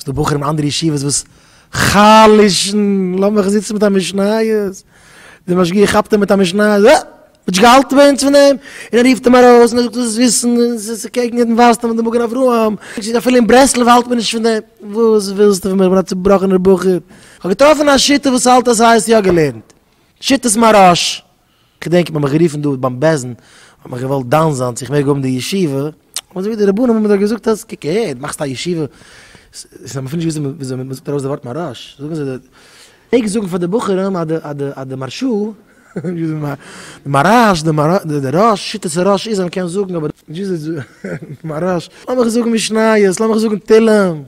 ס'דא בחורים אין אנדערע ישיבות וואס חלש'ן, לאמיך זיצן מיט א משניות, דער משגיח כאפט אים מיט א משניות, אה! האסט נישט געהאלטן ביי אונז פון אים? און ער רופט אים ארויס און ער זאגט, דאס איז וויסן, דאס איז קעגן יעדן ווייסטאם און די מגן אברהם, אפילו אין ברסלב האלט מען נישט פון דעם, וואס ווילסטו פון מיר, איך בין א צובראכענער בחור, כ'האב געטראפן א שיטה וואס האלט אז ס'הייסט יא געלערנט, שיטת מהרש כ'דענק מ'האט מיך גערופן דא ביים בעסטן האט מען געוואלט דן זיין צו איך מעג האבן די ישיבה, האט מען געזאגט די רבנים האבן דאך געזאגט אז קוק אהער דו מאכסט א ישיבה, ס'איז האבן אפילו נישט געוואוסט וויאזוי מ'זאגט ארויס די ווארט מהרש, זאגן זיי די מעגסט זאגן פאר די בחורים אז די אז די מהרשא, די מהרש, די רש, שיטת הרש איז אז מ'קען זאגן אבער נישט וויאזוי מהרש, לאמיך זאגן משניות, לאמיך זאגן תהלים.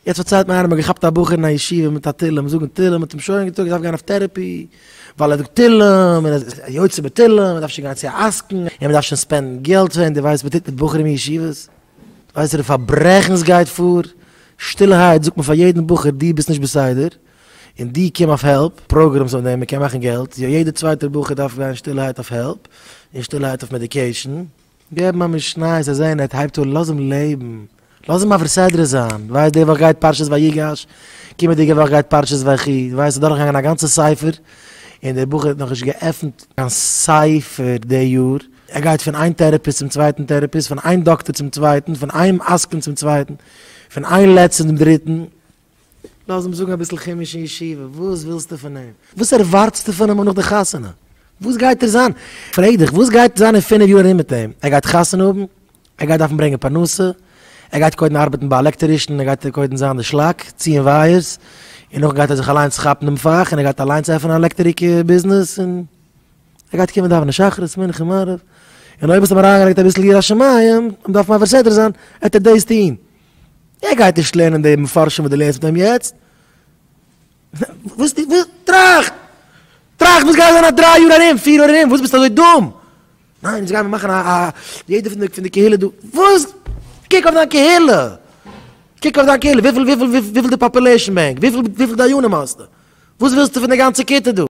יעצט פארציילט מיר איינער מ'האט געכאפט א בחור אין א ישיבה מיט א תהלים זאגן תהלים מ'האט אים שוין געזאגט ער דארף גיין אויף טערעפי ווייל ער זאגט תהלים און ער איז א יוצא בתהלים מ'דארף שוין גיין צו א עסקן און מ'דארף שוין ספענדן געלט פאר אים דו ווייסט וואס מ'טוט מיט בחורים אין ישיבות? דו ווייסט וואס פאר פארברעכנס גייט פאר? שטילערהייט זאגט מען פאר יעדן בחור דו ביסט נישט בסדר און דו קום אויף העלפ פראגרעמס אויף דעם מ'קען מאכן געלט יא יעדער צווייטער בחור דארף גיין שטילערהייט אויף העלפ און שטילערהייט אויף מעדיקעישן געב אים א משניות זאל זען ער הייבט אן, לאז אים לעבן, לאז אים מעביר סדרה זיין, דו ווייסט די וואך גייט פרשת ויגש, קומעדיגע וואך גייט פרשת ויחי, דו וועסט אדורך געגאנגען א גאנצע ספר, און דער בחור האט נאכנישט געעפנט קיין ספר די יאר, ער גייט פון איין טערעפיסט צום צווייטן טערעפיסט, פון איין דאקטער צום צווייטן, פון איין עסקן צום צווייטן, פון איין לץ צום דריטן. לאז אים זאגן אביסל חומש אין ישיבה, וואס ווילסטו פון אים? וואס ערווארטסטו פון אים אויך נאך די חתונה? וואס גייט ער זיין? פרעג דיך, וואס גייט זיין אין פינף יאר ארום מיט אים? ער גייט חתונה האבן? ער גייט דארפן ברענגען פרנסה? ער גייט קודם ארבעטן ביי א עלעקטערישן און ער גייט קודם זיין די שלאק, ציען ווייערס, און נאכדעם גייט ער זיך אליינס כאפן דעם פאך און ער גייט אליינס עפענען א עלעקטעריק ביזנעס, און ער גייט קומען דאווענען שחרית, מנחה, מעריב, און אויב האסטו אים אריינגעלייגט אביסל יראת שמים, און דארף מעביר סדר זיין, עט ער דאס טון. ער גייט נישט לערנען די מפרשים וואס דו לערנסט מיט אים יעצט. וואס די וואס טראכט! טראכט וואס גייט זיין א דריי יאר ארום, פיר יאר ארום, וואס ביסטו אזוי דום? ניין יעצט גייען מיר מאכן א א יעדער פון די פון די קהילה דא, וואס? קוק אויף דיין קהילה! קוק אויף דיין קהילה וויפיל וויפיל וויפיל די פאפולעישן בענק? וויפיל וויפיל דיינים האסטו? וואס ווילסטו פון די גאנצע כיתה דא?